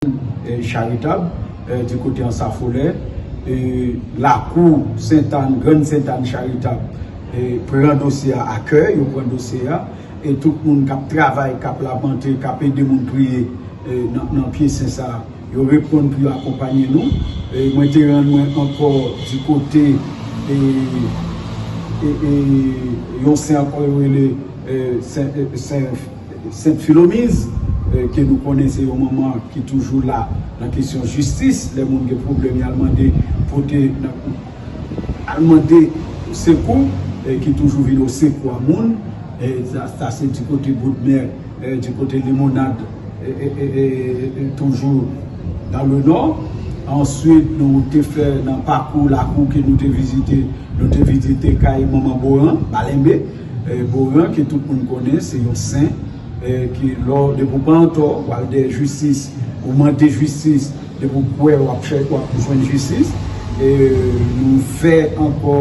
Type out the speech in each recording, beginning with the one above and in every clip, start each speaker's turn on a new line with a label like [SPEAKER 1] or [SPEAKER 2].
[SPEAKER 1] Jardin Charitab, di kote Ansafolè, lakou Sentàn, Grann Sentàn Charitab, pran dosye a a kè, yo pran dosye a, e tout moun k ap travay, k ap lapante, k ap ede moun priye nan pye sen sa a, yo reponn pou yo akonpanye nou. Mwen te rann mwen ankò di kote yon sen ankò yo rele Sen. Sent Filomiz, ke nou konnen se yon manman ki toujou la nan kesyon jistis, lè moun gen pwoblèm y al mande pote nan al mande sekou, ki toujou vin o sekou a moun, sa se di kote Bodmè, di kote Limonad toujou dan le nò. Answit nou te fè nan pakou lakou ke nou te vizite, nou te vizite kay manman Boran, Balenbe. Goran ke tout moun konnen se yon sen ke lè w depi w pa antò w al dèyè jistis ou mande jistis depi w kwè w ap chè w ap jwenn jistis nou fè ankò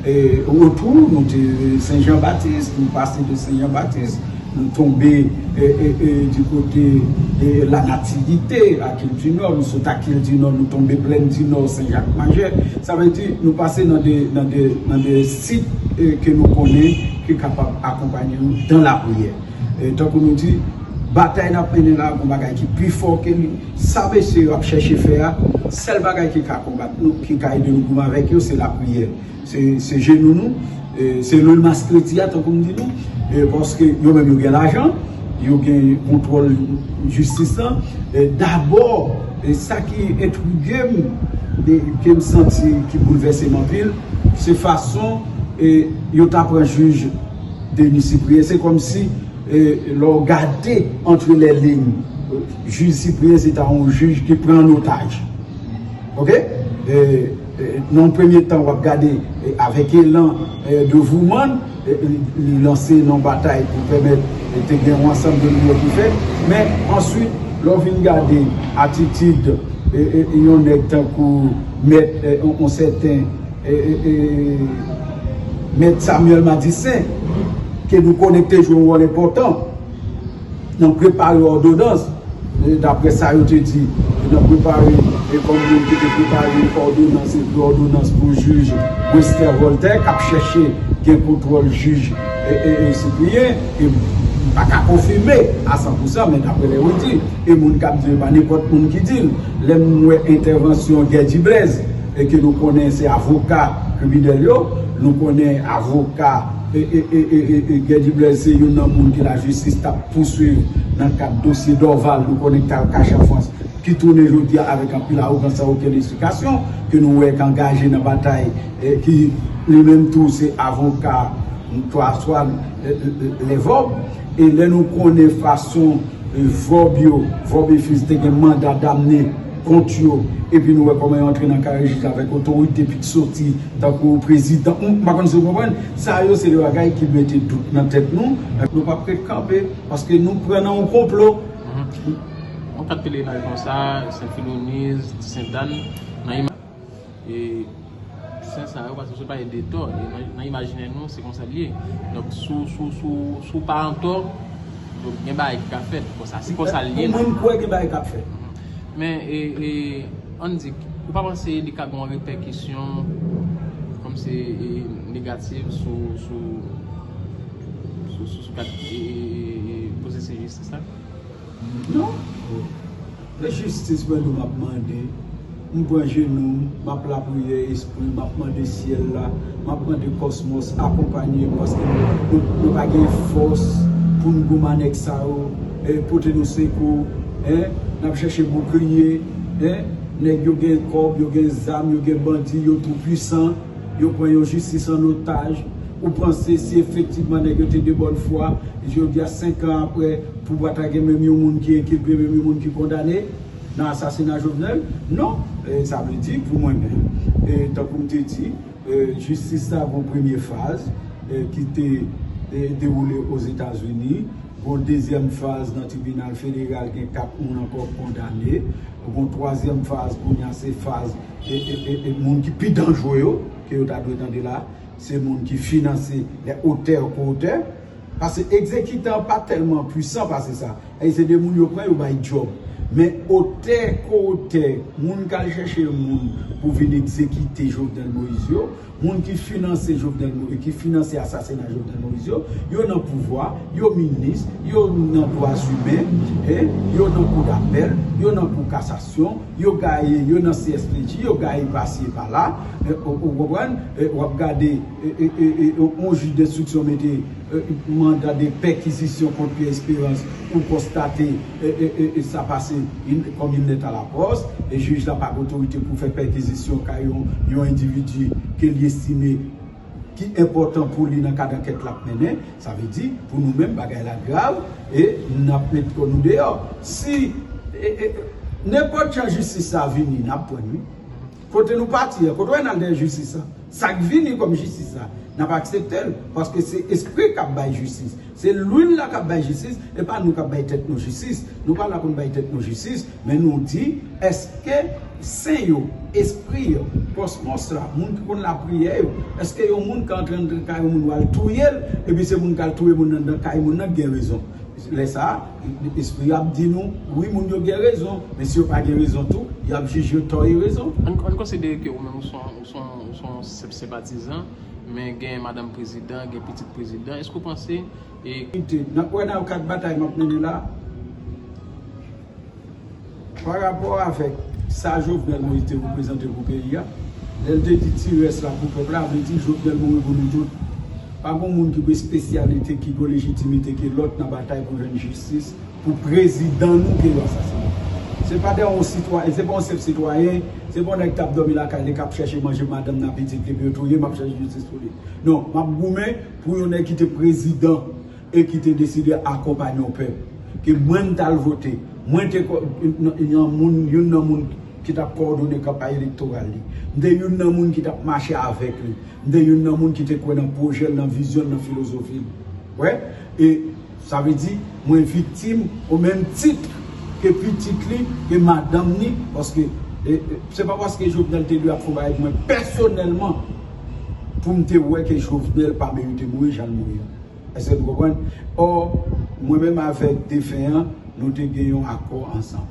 [SPEAKER 1] retou nou te sen jan batis nou pase de sen jan batis M tonbe di kote La Nativite ak Île du Nord, m sot ak Île du Nord nou tonbe Plaine du Nord, Sen Jak Majè. Sa vle di nou pase nan de sit ke nou konnen ki kapab akonpanye nou dan lapriyè. Tankou nou di, batay n ap mennen la gon bagay ki pi fò ke li. Sa mesye yo ap chèche fè a, sèl bagay ki ka konbat nou, ki ka ede nou goumen avèk yo se lapriyè. Se jenou nou, se le mas kredi a tankou m di nou, paske yo menm yo gen lajan, yo gen kontwòl jistis lan, dabò sa ki entrige m, ke m santi ki boulvèse m anpil, se fason yo ta pran jij Denis Cyprien, se kòm si lè w gade antre lè lign, jij Cyprien se ta yon jij ki pran an otaj, ok. Nan yon premye tan wap gade avèk elan devouman li lanse nan batay pou pèmèt te gen yon ansanm de limyè ki fèt men answit lè w vin gade atitid yon nèg tankou mèt yon sèten mèt Samuel Madistin ke nou konnen k te jwe yon wòl enpòtan. Nan prepare òdonans, dapre sa yo te di, nan prepare e kòm moun ki te prepare òdonans, ekri òdonans pou jij Westher Voltaire k ap chèche gen kontwòl jij Cyprien, e m pa ka konfime a san pou san, men dapre lè yo di, e moun k ap di l pa nenpòt moun ki di l, lè m wè entèvansyon Guerdy Blaise, e ke nou konnen se avoka kriminèl yo, nou konnen avoka. E Guedy Blaise se youn nan moun ke la jistis tap pouswiv nan kad dosye Dorval nou konnen ki tal kache an Frans ki tounen jodi a avèk anpil awogans san okenn esplikasyon ke nou wè k angaje nan batay ki li menm tou se avoka Antoine le Vob e lè nou konnen fason Vob yo Vob et Fils te gen manda damne kont yo epi nou wè kòman yo antre nan kare jij avèk otorite pik soti tankou prezidan m pa konn si w konprann sa yo se de bagay ki mete dout nan tèt nou men nou pap ret kanpe paske nou pran nan yon konplo yon
[SPEAKER 2] kat pelenaj konsa sent filoniz ti sentane nan imaj. E Sen sa yo pase se pa e de tò. E nan imajinè nou se konsa li ye. Donk si w pa an tò, donk gen bagay ki ka fèt. Bon sa se konsa li ye. Pou mwen m kwè gen bagay k ap fèt. Men e ann di, ou pa panse li ka gen yon repèkisyon kòm se negatif sou sa k ap pwosese jistis la? Non.
[SPEAKER 1] Nan jistis mwen nou map mande M pran jenou m, map lapriyè espri Map mande syèl la, map mande kòsmòs Akonpanye m paske nou pa gen fòs Pou n gouman nèg sa yo pote nou sekou Nap chèche boukliye Nèg yo gen kòb, yo gen zam, yo gen bandi Yo tou pwisan, yo pran yon jistis an otaj Ou panse si efektivman nèg yo te de bòn fwa Jodi a 5 an aprè Pou bwa kale gen menm yon moun ki enkilpe, menm yon moun ki kondane nan asasina Jovenel? Non! Sa vle di pou mwen menm, tankou m te di, jistis la gon premye faz ki te dewoule Ozetazini, gon dezyèm faz nan tribinal federal gen 4 moun ankò kondane, gon twazyèm faz kounye a se faz moun ki pi danjre yo ke yo ta dwe tande la, se moun ki finanse, les auteurs, co-auteurs. Pase egzekitan an pa tèlman pwisan pase sa. Èy se 2 moun yo pran yo bay djòb. Men otè, ko-otè, moun k al chèche moun pou vin egzekite Jovenel Moïse yo, moun ki finanse Jovenel Mo, ki finanse asasina Jovenel Moïse yo, yo nan pouvwa, yo minis, yo nan dwazimen, e yo nan kou dapèl, yo nan kou kasasyon, yo gaye, yo nan CSPJ, yo gaye pasi e pala. Ou konprann? W ap gade. On jij denstriksyon mete manda de pèkizisyon kont Pierre Esperance pou konstate sa pase kòm il nèt a la pòs. Jij la pa gen otorite pou fè pèkizisyon kay yon endividi ke li estime ki enpòtan pou li nan kad ankèt l ap mennen. Sa vle di, pou nou menm, bagay la grav e n ap met kò nou deyò. Si nenpòt jan jistis la vini, n ap pran l wi. Kote nou pati an, kote w wè n al dèyè jistis la, sa k vini kòm jistis la, n ap aksepte l, paske se Espri k ap bay jistis, se luil la k ap bay jistis, e pa nou k ap bay tèt nou jistis. Nou pa la pou n bay tèt nou jistis, men nou di, èske sen yo, espri yo, kòsmòs la, moun ki konn lapriyè yo, èske yon moun ka antre anndan kay yon moun ou al touye l, epi se moun k al touye moun anndan kay moun nan ki gen rezon? Lè sa a. Espri yo ap di nou, wi moun yo gen rezon, men si yo pa gen rezon tou, y ap jije yo tò e rezon. Ann konsidere ke ou
[SPEAKER 2] menm ou se yon senp senpatizan, men gen madanm prezidan, gen pitit prezidan, èske ou panse e. N ap
[SPEAKER 1] wè nan kad batay m ap mennen la. Pa rapò avèk sa Jovenel Moïse te reprezante pou peyi a, lè l te di ti rès la pou pèp la, vle di Jovenel mouri pou nou tout. Pa gon moun ki pou espesyalite, ki pou lejitimite ke lòt nan batay pou jwenn jistis pou prezidan nou ke yo asasinen. Se pa de on sitwayen, se pa on senp sitwayen, se pa on nèg k ap dòmi lakay li k ap chèche manje pou madanm li ak pitit li epi yo touye m ap chèche jistis pou li. Non, m ap goumen pou yon nèg ki te prezidan. e ki te deside akonpanye yon pèp ke mwen m t al vote, mwen te yon moun, youn nan moun ki t ap kowòdone kanpay elektoral li, m te youn nan moun ki t ap mache avèk li, m te youn nan moun ki te kwè nan pwojè l, nan vizyon l, nan filozofi l. Wè? E sa vle di mwen viktim o menm tit ke pitit li, ke madanm ni, paske e se pa paske Jovenel te dwe ap fon bagay pou mwen pèsonèlman pou m te wè ke Jovenel pa merite mouri jan l mouri an. Eske nou konprann? Or, mwen menm avèk defen an, nou te gen yon akò ansanm.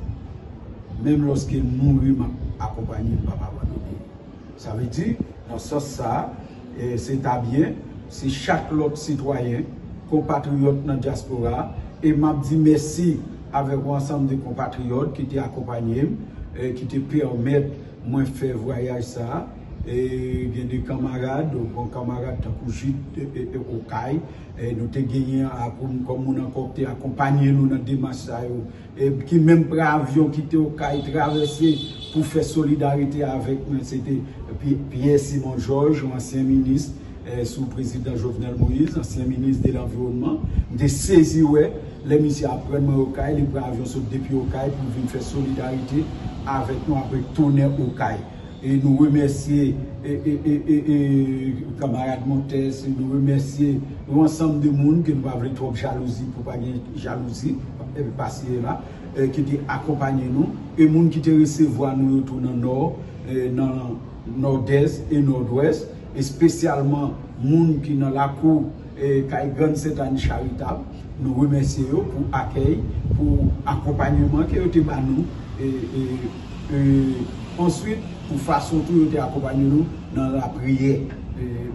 [SPEAKER 1] Menm lòske l mouri, m ap akonpanye l, m pa p abandone l. Sa vle di, nan sans sa a, se ta byen si chak lòt sitwayen, konpatriyòt nan dyaspora a, e m ap di mèsi avèk yon ansanm de konpatriyòt ki te akonpanye m, ki te pèmèt Mwen fè vwayaj sa a, e gen de kanmarad, bon kanmarad tankou Jude Okay, nou te genyen akoum kòm moun ankò k te akonpanye nou nan demach sa yo, ki menm pran avyon kite Okay, travèse pou fè solidarite avèk mwen, se te Pierre Simon Georges, yon ansyen minis. sou prezidan Jovenel Moïse, ansyen minis de lanviwònman, m te sezi wè lè misye aprann mwen Okay, li pran avyon sot depi Okay pou l vin fè solidarite avèk nou apre tonè Okay. E nou remèsye kanmarad Montes, nou remèsye yon ansanm de moun ke nou pa vle twòp jalouzi pou pa gen jalouzi pasi e la, ki te akonpanye nou, e moun ki te resevwa nou yo tou nan Nò, nan Nòdès e Nòdwès. espesyalman moun ki nan lakou kay Grann Sentani Charitab, nou remèsye yo pou akèy, pou akonpanyeman ke yo te ba nou, e answit pou fason tou yo te akonpanye nou nan lapriyè,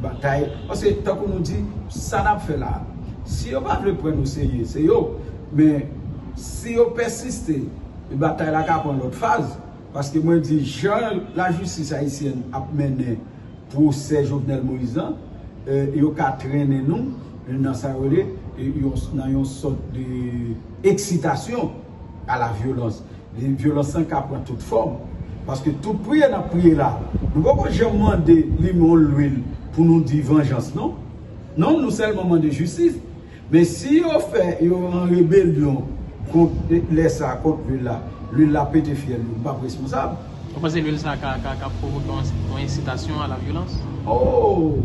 [SPEAKER 1] batay, paske tankou nou di, sa nap fè la, si yo pa vle pran n oserye, se yo, men si yo pèsiste, batay la ka pran lòt faz, paske mwen di jan lajistis ayisyèn ap mennen. pwosè Jovenel Moïse lan, yo ka trennen nou nan sa yo rele nan yon sòt de eksitasyon a la vyolans. Vyolans lan ka pran tout fòm. Paske tout priye n ap priye la, nou poko janm mande li menw lwil pou nou di vanjans non. Non, nou sèlman mande jistis. Men si yo fè yo an rebelyon kont lè sa a kont lwil la, lwil la pete fyèl yo, m pap responsab. Ou panse lwil sa a
[SPEAKER 2] ka pwovoke yon ensitasyon a la vyolans? O!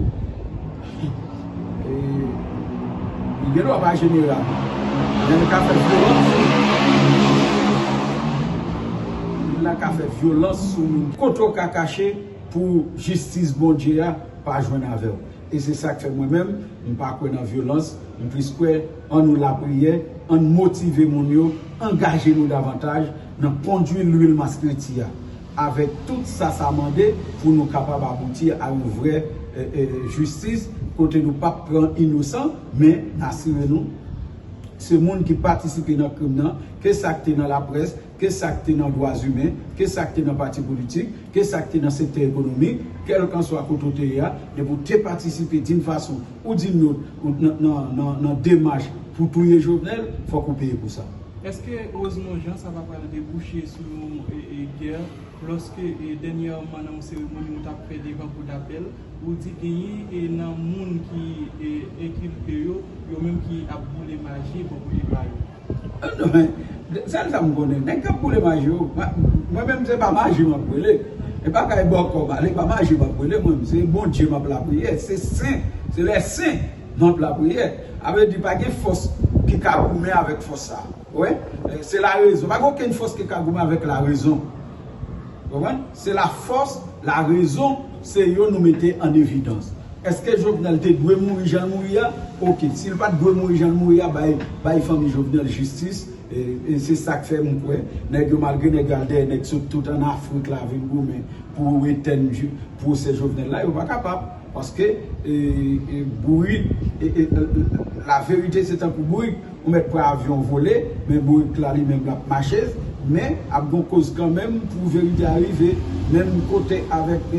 [SPEAKER 1] Li gen dwa pa jeneral, men li ka fè vyolans. Lwil la ka fè vyolans sou moun. Kote w ka kache pou jistis Bondye a pa jwenn avè w? e se sak fè mwen menm m pa kwè nan vyolans m plis kwè an nou lapriyè ann motive moun yo angaje nou davantaj nan kondwi lwil maskriti a avèk tout sa sa mande pou nou kapab abouti a yon vrè jistis kote nou pap pran inosan men n asire nou se moun ki patisipe nan krim nan ke sak te nan laprès ke sa k te nan dwazimen, ke sa k te nan pati politik, ke sa k te nan sektè ekonomik, kèlkanswa kote w te ye a, depi w te patisipe din fason ou din lòt nan demach pou touye Jovenel, fòk ou peye pou sa. Eske Rosemond
[SPEAKER 3] Jean sa pa pral debouche sou yon gè lòske dènyèman nan yon seremoni ou t ap fè devan kou dapèl, ou di genyen nan moun ki enkilpe yo, yo menm ki ap boule maji bò kote pa yo? Non men,
[SPEAKER 1] sèl sa m konnen, nèg k ap boule maji yo, mwen menm se pa maji m ap boule, e pa kay bòkò m ale, pa maji m ap boule mwen menm, se Bondye m ap lapriyè, se sen, se lè sen m ap lapriyè. A vle di pa gen fòs ki ka goumen avèk fòs sa. Ou wè? Se larezon, pa gen okenn fòs ki ka goumen avèk larezon. Ou konprann? Se la fòs, la rezon, se yo nou mete an evidans. Eske Jovenel te dwe mouri jan l mouri a? Ok, si l pa t dwe mouri jan l mouri a, bay bay fanmi Jovenel jistis, e se sa k fè m kwè nèg yo malgre nèg yo al dèyè nèg sot tout an Afrik la vin goumen pou yo etèn pwosè Jovenel la, yo pa kapab paske bourik la verite se tankou bourik. Ou mèt pran avyon vole, men bourik la li menm lap mache, men ap gon koz kanmenm pou verite a rive menm kote avèk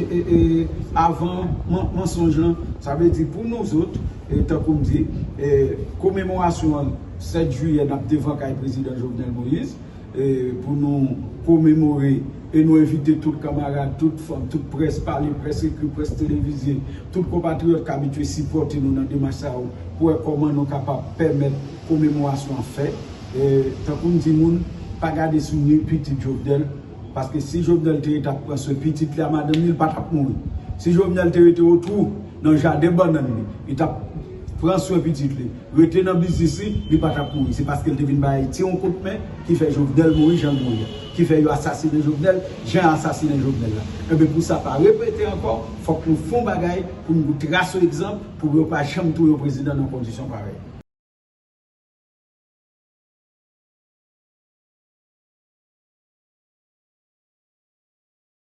[SPEAKER 1] avan mansonj lan. Sa vle di pou nou zot, tankoum di, komemorasyon 7 jiyè nap devan kay prezidan Jovenel Moïse. pou nou komemore e nou envite tout kamarad, tout fanm, tout près pale, près ekri, près televize, tout konpatriyòt k abitye sipòte nou nan demach sa yo pou wè kòman nou kapab pèmèt komemorasyon an fèt. Tankou m di moun, pa gade sou ni pitit Jovenel, paske si Jovenel te rete ap pran swen pitit li a madanm li, li pa t ap mouri. Si Jovenel te rete otou. nan jaden bannann li, li t ap pran swen pitit li, rete nan biznis li, li pa t ap mouri. Se paske l te vin bay Ayiti yon kout men ki fè Jovenel mouri jan l mouri a. Ki fè yo asasinen Jovenel jan y asasinen Jovenel la. Enben pou sa pa repete ankò, fòk nou fon bagay pou nou tras yon egzanp pou yo pa janm touye yon prezidan nan kondisyon parèy.